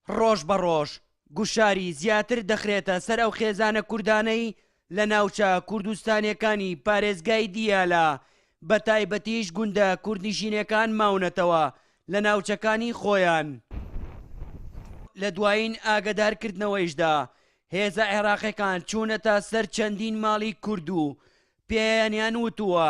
ڕۆژ بە ڕۆژ گوشاری زیاتر دەخرێتە سەر ئەو خێزانە کوردانەی لە ناوچە کوردستانیەکانی پارێزگای دیالە بە تایبەتیش گوندە کوردنیشینەکان ماونەتەوە لە ناوچەکانی خۆیان لە دوایین ئاگدارکردنەوەیشدا هێزە عێراقیەکان چوونەتە سەر چەندین ماڵی کورد و پێیانیان وتووە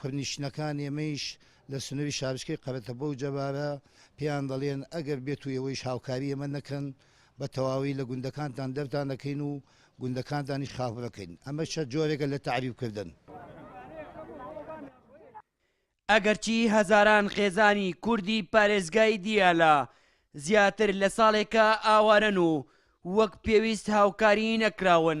کوردنیشتنەکان ئێمەیش لە سنوری شارۆچکەی قەرەتەپە و جەبارە پێیان دەڵێن ئەگەر بێت و ئێوەیش هاوکاری ئێمە نەکەن بە تەواوی لە گوندەکانتان دەرتان ئەکەین و گوندەکانتانیش خاپور ئەکەین ئەمەش چەند جۆرێکە لە تەعریب کردن. ئەگەرچی هەزاران خێزانی کوردی پارێزگای دیالە زیاتر لە ساڵێکە ئاوارەن و وەک پێویست هاوکاری نەکراون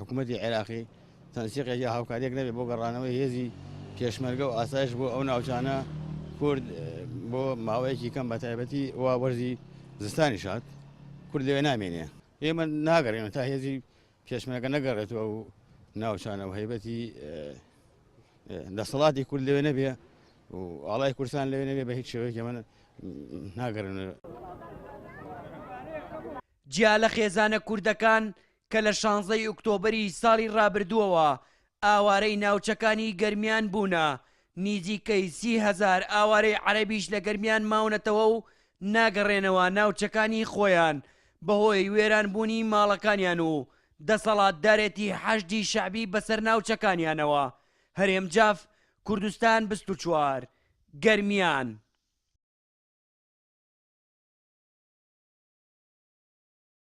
حکومەتی عێراقی تەنسیقێک یا هاوکارییەک نەبێت بۆ گەڕانەوەی هێزی پێشمەرگە و ئاسایش بۆ ئەو ناوچانە کورد بۆ ماوەیەکی کەم بە تایبەتی وا وەرزی زستانی شاد کورد لەوێ نامێنێ ئێمە ناگەڕێنە تا هێزی پێشمەرگە نەگەڕێتەوە و ناوچانە و هەیبەتی دەسەڵاتی کورد لەوێ نەبێ و ئاڵای کورسان لەوێ نەبێ بە هیچ شێوەیەکی من ناگەرن جیا لە خێزانە کوردەکان کە لە شانزەی ئوکتۆبەری ساڵی رابردووەوە ئاوارەی ناوچەکانی گەرمیان بوونە، نیزیکەی سی هەزار ئاوارەی عەرەبیش لە گەرمیان ماونەتەوە و ناگەڕێنەوە ناوچەکانی خۆیان بەهۆی وێرانبوونی ماڵەکانیان و دەسەڵاتدارێتی حەشدی شەعبی بەسەر ناوچەکانیانەوە، هەرێم جاف، کوردستان بیست و چوار، گەرمیان.